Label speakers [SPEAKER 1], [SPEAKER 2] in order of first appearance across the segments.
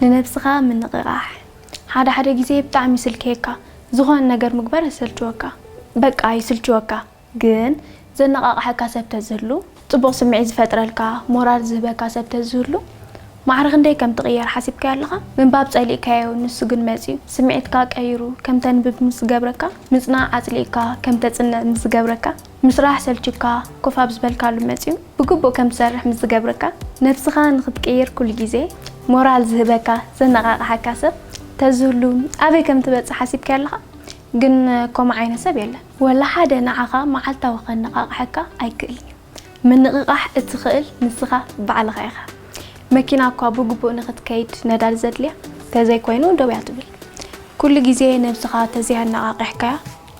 [SPEAKER 1] ንነብስኻ ምንቕቓሕ ሓደ ሓደ ግዜ ብጣዕሚ ይስልክየካ ዝኾነ ነገር ምግባር የሰልችወካ በቃ ይስልችወካ ግን ዘነቓቕሐካ ሰብ ተዝህሉ ጽቡቕ ስምዒት ዝፈጥረልካ ሞራል ዝህበካ ሰብ ተዝህሉ ማዕረ ክንደይ ከም ትቕየር ሓሲብካዮ ኣለኻ ምንባብ ጸሊእካዮ ንሱ ግን መጺኡ ስምዒትካ ቀይሩ ከም ተንብብ ምስ ዝገብረካ ምጽናዕ ኣጽሊእካ ከም ተጽንዕ ምስ ዝገብረካ ምስራሕ ሰልችዩካ ኮፍ ኣብ ዝበልካሉ መጽዩ ብግቡእ ከም ትሰርሕ ምስ ዝገብረካ፣ ነብስኻ ንኽትቅይር ኩሉ ግዜ ሞራል ዝህበካ፣ ዘነቓቕሓካ ሰብ ተዝህሉ ኣበይ ከም ትበጽሕ ሓሲብካዮ ኣለኻ? ግን ከምኡ ዓይነት ሰብ የለን። ወላ ሓደ ንዓኻ መዓልታዊ ከነቓቕሐካ ኣይክእልን እዩ። ምንቕቓሕ እትኽእል ንስኻ ባዕልኻ ኢኻ። መኪና እኳ ብግቡእ ንኽትከይድ ነዳዲ ዘድልያ፣ ተዘይኮይኑ ደው እያ ትብል። ኩሉ ግዜ ነብስኻ ተዘይኣነቓቒሕካያ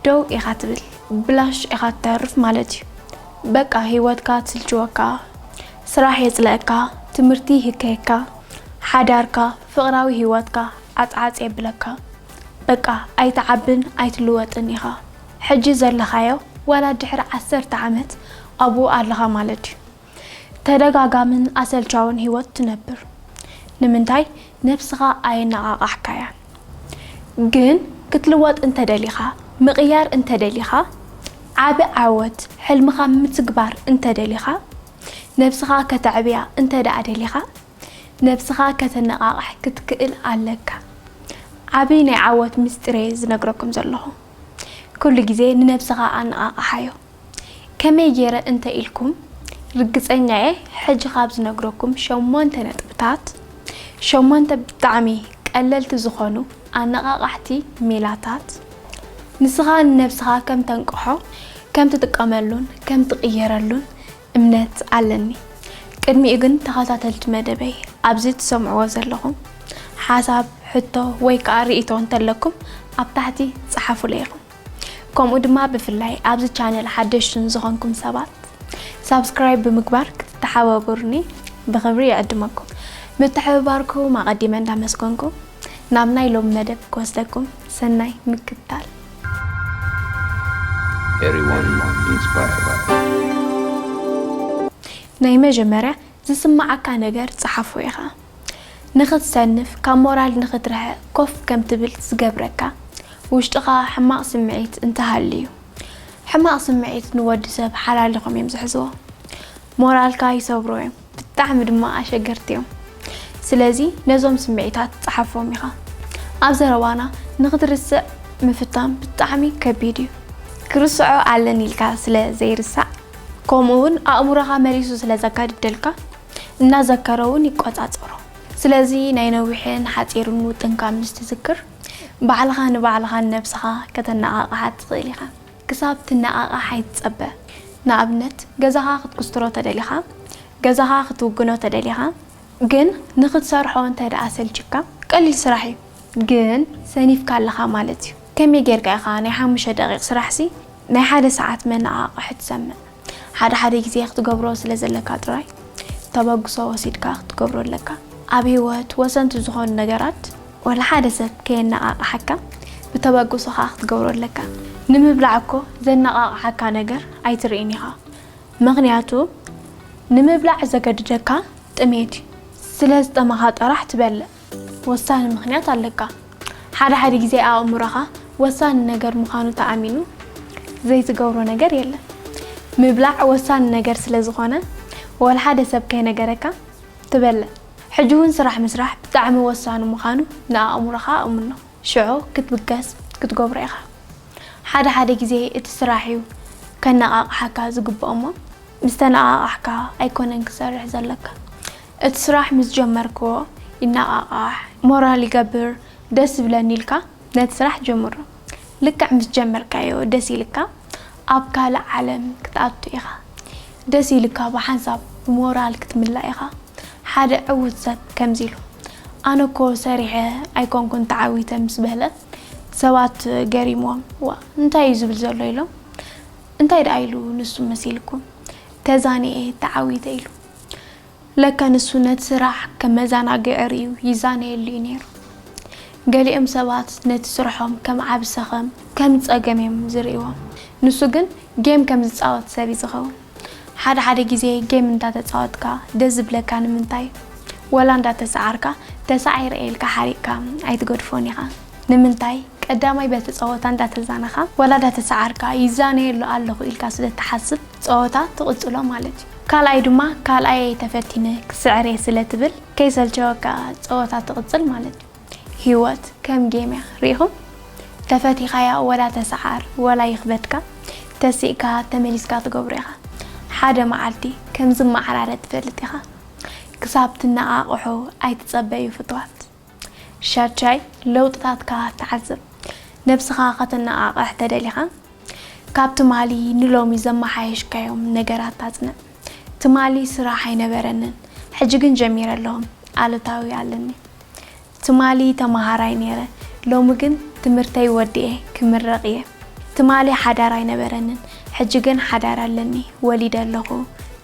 [SPEAKER 1] ደው ኢኻ ትብል ብላሽ ኢኻ ትተርፍ ማለት እዩ በቃ ሂወትካ ትስልችወካ ስራሕ የጽለኣካ ትምህርቲ ይህከየካ ሓዳርካ ፍቅራዊ ሂወትካ ዓጽዓጽ የብለካ በቃ ኣይትዓብን ኣይትልወጥን ኢኻ ሕጂ ዘለኻዮ ዋላ ድሕሪ ዓሰርተ ዓመት ኣብኡ ኣለኻ ማለት እዩ ተደጋጋምን ኣሰልቻውን ህይወት ትነብር። ንምንታይ ነብስኻ ኣየነቓቓሕካያን? ግን ክትልወጥ እንተደሊኻ፣ ምቕያር እንተደሊኻ፣ ዓቢ ዓወት ሕልምኻ ምትግባር እንተደሊኻ፣ ነብስኻ ከተዕብያ እንተድኣ ደሊኻ፣ ነብስኻ ከተነቓቕሕ ክትክእል ኣለካ። ዓቢ ናይ ዓወት ምስጢር'የ ዝነግረኩም ዘለኹ። ኩሉ ግዜ ንነብስኻ ኣነቓቕሓዮ። ከመይ ጌረ እንተ ኢልኩም፣ ርግጸኛ'የ ሕጂ ካብ ዝነግረኩም ሸሞንተ ነጥብታት፣ ሸሞንተ ብጣዕሚ ቀለልቲ ዝኾኑ ኣነቓቓሕቲ ሜላታት፣ ንስኻ ንነብስኻ ከም ተንቅሖ፣ ከም ትጥቀመሉን ከም ትቕየረሉን እምነት ኣለኒ። ቅድሚኡ ግን ተኸታተልቲ መደበይ ኣብዚ ትሰምዕዎ ዘለኹም፣ ሓሳብ፣ ሕቶ ወይ ከኣ ርእይቶ እንተለኩም ኣብ ታሕቲ ጸሓፉለይ ኢኹም። ከምኡ ድማ ብፍላይ ኣብዚ ቻነል ሓደሽቲ ንዝኾንኩም ሰባት ሳብስክራይብ ብምግባር ክትተሓባበሩኒ ብኽብሪ ይዕድመኩም። ምትሕብባርኩም ኣቐዲመ እንዳመስገንኩ ናብ ናይ ሎሚ መደብ ክወስደኩም ሰናይ ምክትታል። Everyone inspired. ናይ መጀመርያ ዝስምዓካ ነገር ጽሓፎ ኢኻ። ንኽትሰንፍ፣ ካብ ሞራል ንኽትርሕቕ ኮፍ ከም ትብል ዝገብረካ ውሽጥኻ ሕማቕ ስምዒት እንተ ሃልዩ። ሕማቕ ስምዒት ንወዲ ሰብ ሓላሊኾም እዮም ዝሕዝዎ። ሞራልካ ይሰብሩ እዮም፣ ብጣዕሚ ድማ ኣሸገርቲ እዮም። ስለዚ ነዞም ስምዒታት ጸሓፎም ኢኻ። ኣብ ዘረባና ንኽትርስዕ ምፍታን ብጣዕሚ ከቢድ እዩ። ክርስዖ ኣለኒ ኢልካ ስለ ዘይርሳዕ፣ ከምኡ'ውን ኣእምሮኻ መሊሱ ስለ ዘጋድደልካ እናዘከረ እውን ይቆፃፀሮ። ስለዚ ናይ ነዊሕን ሓፂርን ውጥንካ ምስ ትዝክር ባዕልኻ ንባዕልኻን ነብስኻ ከተነቓቕሓ ትኽእል ኢኻ። ክሳብ ትነቓቓሕ ኣይትፀበ። ንኣብነት ገዛኻ ክትኩስትሮ ተደሊኻ፣ ገዛኻ ክትውግኖ ተደሊኻ፣ ግን ንኽትሰርሖ እንተድኣ ሰልቺካ ቀሊል ስራሕ እዩ ግን ሰኒፍካ ኣለኻ ማለት እዩ ከመይ ጌርካ ኢኻ ናይ ሓሙሽተ ደቒቕ ስራሕሲ ናይ ሓደ ሰዓት መነቓቕሒ ትሰምዕ? ሓደ ሓደ ግዜ ክትገብሮ ስለ ዘለካ ጥራይ ተበግሶ ወሲድካ ክትገብሮ ኣለካ። ኣብ ህይወት ወሰንቲ ዝኾኑ ነገራት ዋላ ሓደ ሰብ ከየነቓቕሓካ ብተበግሶ ከኣ ክትገብሮ ኣለካ። ንምብላዕ እኮ ዘነቓቕሓካ ነገር ኣይትርእን ኢኻ ምኽንያቱ ንምብላዕ ዘገድደካ ጥሜት እዩ። ስለ ዝጠመኻ ጥራሕ ትበልዕ። ወሳኒ ምኽንያት ኣለካ። ሓደ ሓደ ግዜ ኣእምሮኻ ወሳኒ ነገር ምዃኑ ተኣሚኑ ዘይትገብሮ ነገር የለን። ምብላዕ ወሳኒ ነገር ስለ ዝኾነ ወላ ሓደ ሰብ ከይነገረካ ትበልዕ። ሕጂ እውን ስራሕ ምስራሕ ብጣዕሚ ወሳኒ ምዃኑ ንኣእምሮኻ ኣእምኖ። ሽዑ ክትብገስ ክትገብሮ ኢኻ። ሓደ ሓደ ግዜ እቲ ስራሕ እዩ ከነቓቕሓካ ዝግብኦ እሞ ምስ ተነቓቓሕካ ኣይኮነን ክትሰርሕ ዘለካ። እቲ ስራሕ ምስ ጀመርክዎ ይነቓቓሕ፣ ሞራል ይገብር፣ ደስ ይብለኒ ኢልካ ነቲ ስራሕ ጀምሮ። ልክዕ ምስ ጀመርካዮ ደስ ኢልካ ኣብ ካልእ ዓለም ክትኣቱ ኢኻ። ደስ ኢልካ ብሓንሳብ ብሞራል ክትምላእ ኢኻ። ሓደ ዕዉት ሰብ ከምዚ ኢሉ፣ ኣነ እኮ ሰሪሐ ኣይኮንኩን ተዓዊተ ምስ በለ ሰባት ገሪምዎም ዋእ እንታይ እዩ ዝብል ዘሎ ኢሎም እንታይ ደኣ ኢሉ ንሱ መሲልኩም ተዛኒኤ ተዓዊተ ኢሉ። ለካ ንሱ ነቲ ስራሕ ከም መዘናግዒ ርእዩ ይዛነየሉ እዩ ነይሩ። ገሊኦም ሰባት ነቲ ስርሖም ከም ዓቢ ሰኸም፣ ከም ጸገም እዮም ዝርእይዎ። ንሱ ግን ጌም ከም ዝጻወት ሰብ እዩ ዝኸውን። ሓደ ሓደ ግዜ ጌም እንዳተጻወትካ ደስ ዝብለካ ንምንታይ ወላ እንዳተሰዓርካ ተሳዒረ ኢልካ ሓሪቕካ ኣይትገድፎን ኢኻ። ንምንታይ ቀዳማይ በቲ ጸወታ እንዳተዛነኻ ዋላ እንዳተሳዓርካ ይዛነየሉ ኣለኹ ኢልካ ስለ እትሓስብ ጸወታ ትቕጽሎ ማለት እዩ። ካልኣይ ድማ ካልኣይ እየ ተፈቲነ ክስዕር እየ ስለ ትብል ከይሰልቸወካ ጸወታ ትቕጽል ማለት እዩ። ሂወት ከም ጌም እያ ርኢኹም ተፈቲኻያ ወላ ተሳዓር ወላ ይኽበድካ ተሲእካ ተመሊስካ ትገብሮ ኢኻ ሓደ መዓልቲ ከም ዝመዓራረ ትፈልጥ ኢኻ ክሳብ ትነቓቕሑ ኣይትጸበዩ ፍትዋት። ሻድሻይ፣ ለውጥታትካ ክትዓዝብ ነብስኻ ከተነቓቕሕ ተደሊኻ፣ ካብ ትማሊ ንሎሚ ዘመሓየሽካዮም ነገራት ኣጽንዕ። ትማሊ ስራሕ ኣይነበረንን፣ ሕጂ ግን ጀሚረ ኣለኹ፣ ኣሉታዊ ኣለኒ። ትማሊ ተመሃራይ ነይረ፣ ሎሚ ግን ትምህርተይ ወዲኤ ክምረቕ እየ። ትማሊ ሓዳር ኣይነበረንን፣ ሕጂ ግን ሓዳር ኣለኒ ወሊደ ኣለኹ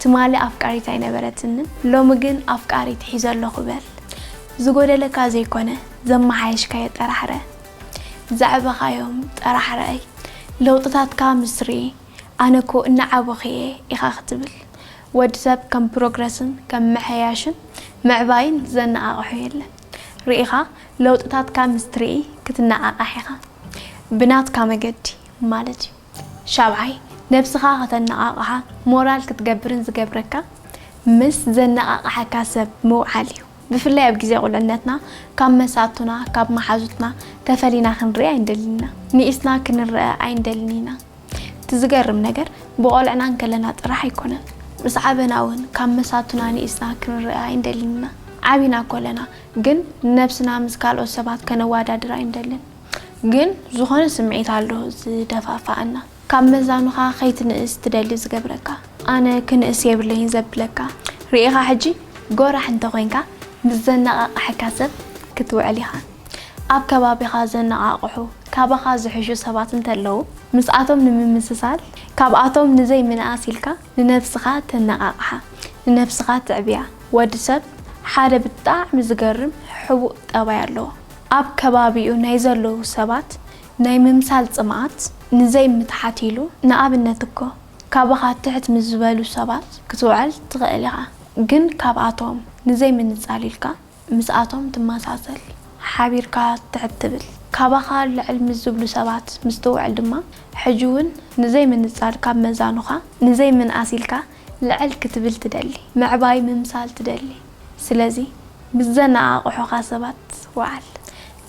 [SPEAKER 1] ትማሊ ኣፍቃሪት ኣይነበረትንን ሎሚ ግን ኣፍቃሪት ሒዘ ኣለኹ በል ዝጎደለካ ዘይኮነ ዘመሓየሽካዮ ጠራሕረ ዘዕበኻዮም ጠራሕ ርኣይ ለውጥታትካ ምስ ርእ ኣነ እኮ እናዓበኹ እየ ኢኻ ክትብል ወዲ ሰብ ከም ፕሮግረስን ከም ምሕያሽን ምዕባይን ዘነቓቕሖ የለን ርኢኻ ለውጥታትካ ምስ ትርኢ ክትነቓቓሕ ኢኻ ብናትካ መገዲ ማለት እዩ ሻብዓይ፣ ነብስኻ ከተነቓቕሓ ሞራል ክትገብርን ዝገብረካ ምስ ዘነቓቕሓካ ሰብ ምውዓል እዩ። ብፍላይ ኣብ ግዜ ቁልዕነትና ካብ መሳቱና ካብ መሓዙትና ተፈሊና ክንርኢ ኣይንደልን ኢና። ንኢስና ክንረኣ ኣይንደልን ኢና። እቲ ዝገርም ነገር ብቆልዕና እንከለና ጥራሕ ኣይኮነን ምስ ዓበና እውን ካብ መሳቱና ንኢስና ክንረኣ ኣይንደልን ኢና። ዓቢና ኮለና ግን ንነብስና ምስ ካልኦት ሰባት ከነዋዳድራ ኣይንደልን። ግን ዝኾነ ስምዒት ኣሎ ዝደፋፍኣና ካብ መዛኑኻ ከይትንእስ ትደሊ ዝገብረካ ኣነ ክንእስ የብለይን ዘብለካ ርኢኻ ሕጂ ጎራሕ እንተኾይንካ ምስ ዘነቓቕሐካ ሰብ ክትውዕል ኢኻ ኣብ ከባቢኻ ዘነቓቕሑ ካባኻ ዝሕሹ ሰባት እንተለዉ ምስኣቶም ንምምስሳል ካብኣቶም ንዘይምንኣስ ኢልካ ንነብስኻ ተነቓቕሓ ንነብስኻ ትዕብያ ወዲ ሰብ ሓደ ብጣዕሚ ዝገርም ሕቡእ ጠባይ ኣለዎ ኣብ ከባቢኡ ናይ ዘለዉ ሰባት ናይ ምምሳል ጽምኣት ንዘይ ምትሓት ኢሉ ንኣብነት እኮ ካብኻ ትሕት ምስ ዝበሉ ሰባት ክትውዕል ትኽእል ኢኻ ግን ካብኣቶም ንዘይ ምንጻል ኢልካ ምስኣቶም ትመሳሰል ሓቢርካ ትሕት ትብል ካባኻ ልዕል ምስ ዝብሉ ሰባት ምስ ትውዕል ድማ ሕጂ ውን ንዘይ ምንጻል ካብ መዛኑኻ ንዘይ ምንኣስ ኢልካ ልዕል ክትብል ትደሊ ምዕባይ ምምሳል ትደሊ ስለዚ ምስ ዘነቓቕሑኻ ሰባት ውዓል።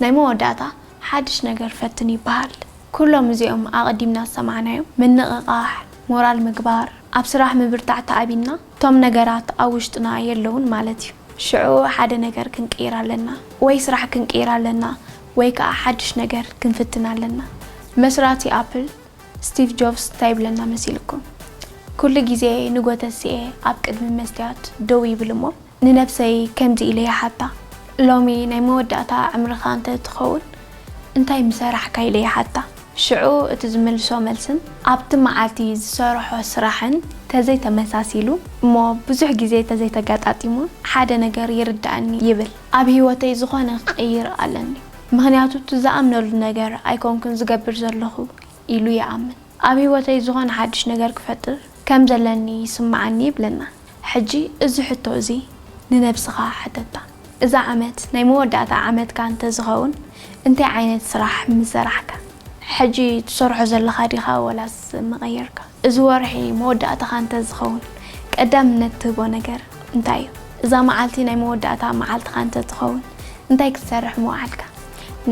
[SPEAKER 1] ናይ መወዳእታ ሓድሽ ነገር ፈትን ይበሃል። ኩሎም እዚኦም ኣቐዲምና ዝሰማዕናዮም፣ ምንቕቓሕ፣ ሞራል ምግባር፣ ኣብ ስራሕ ምብርታዕ ተኣቢና፣ እቶም ነገራት ኣብ ውሽጥና የለዉን ማለት እዩ። ሽዑ ሓደ ነገር ክንቅይር ኣለና። ወይ ስራሕ ክንቅይር ኣለና ወይ ከኣ ሓድሽ ነገር ክንፍትን ኣለና። መስራቲ ኣፕል፣ ስቲቭ ጆቭስ ታይ ይብለና መሲልኩም ኩሉ ግዜ ንጎተሲኤ ኣብ ቅድሚ መስትያት ደው ይብል እሞ ንነብሰይ ከምዚ ኢለ ይሓታ ሎሚ ናይ መወዳእታ ዕምርካ እንተ ትከውን እንታይ ምሰራሕካ ኢለ ይሓታ ሽዑ እቲ ዝምልሶ መልስን ኣብቲ መዓልቲ ዝሰረሖ ስራሕን ተዘይ ተመሳሲሉ እሞ ብዙሕ ግዜ ተዘይ ተጋጣጢሙ ሓደ ነገር ይርደኣኒ ይብል ኣብ ሂወተይ ዝኮነ ክቅይር ኣለኒ ምኽንያቱ እቲ ዝኣምነሉ ነገር ኣይኮንኩን ዝገብር ዘለኹ ኢሉ ይኣምን። ኣብ ህይወተይ ዝኾነ ሓድሽ ነገር ክፈጥር ከም ዘለኒ ይስምዓኒ ይብለና። ሕጂ እዚ ሕቶ እዚ ንነብስኻ ሓተታ፣ እዛ ዓመት ናይ መወዳእታ ዓመትካ እንተ ዝኸውን እንታይ ዓይነት ስራሕ ምሰራሕካ? ሕጂ ትሰርሖ ዘለኻ ዲኻ ወላስ ምቐየርካ? እዚ ወርሒ መወዳእታኻ እንተዝኸውን ቀዳምነት ትህቦ ነገር እንታይ እዩ? እዛ መዓልቲ ናይ መወዳእታ መዓልትኻ እንተትኸውን እንታይ ክትሰርሕ ምወዓልካ?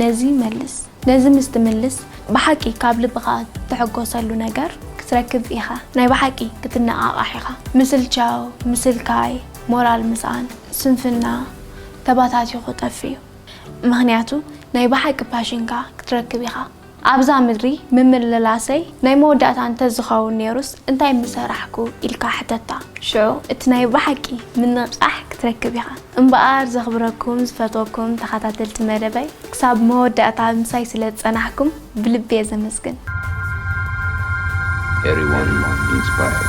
[SPEAKER 1] ነዚ መልስ። ነዚ ምስ ትምልስ ብሓቂ ካብ ልብኻ ትሕጎሰሉ ነገር ክትረክብ ኢኻ። ናይ ብሓቂ ክትነቓቓሕ ኢኻ። ምስልቻው፣ ምስልካይ፣ ሞራል ምስኣን፣ ስንፍና ተባታቲኹ ጠፊኡ። ምኽንያቱ ናይ ብሓቂ ፓሽንካ ክትረክብ ኢኻ። ኣብዛ ምድሪ ምምልላሰይ ናይ መወዳእታ እንተ ዝኸውን ነይሩስ እንታይ ምሰራሕኩ ኢልካ ሕተታ። ሽዑ እቲ ናይ ብሓቂ ምንቕቓሕ ክትረክብ ኢኻ። እምበኣር ዘኽብረኩም ዝፈትወኩም ተኸታተልቲ መደበይ ክሳብ መወዳእታ ምሳይ ስለ ዝጸናሕኩም ብልቢ እየ ዘመስግን። Everyone inspired.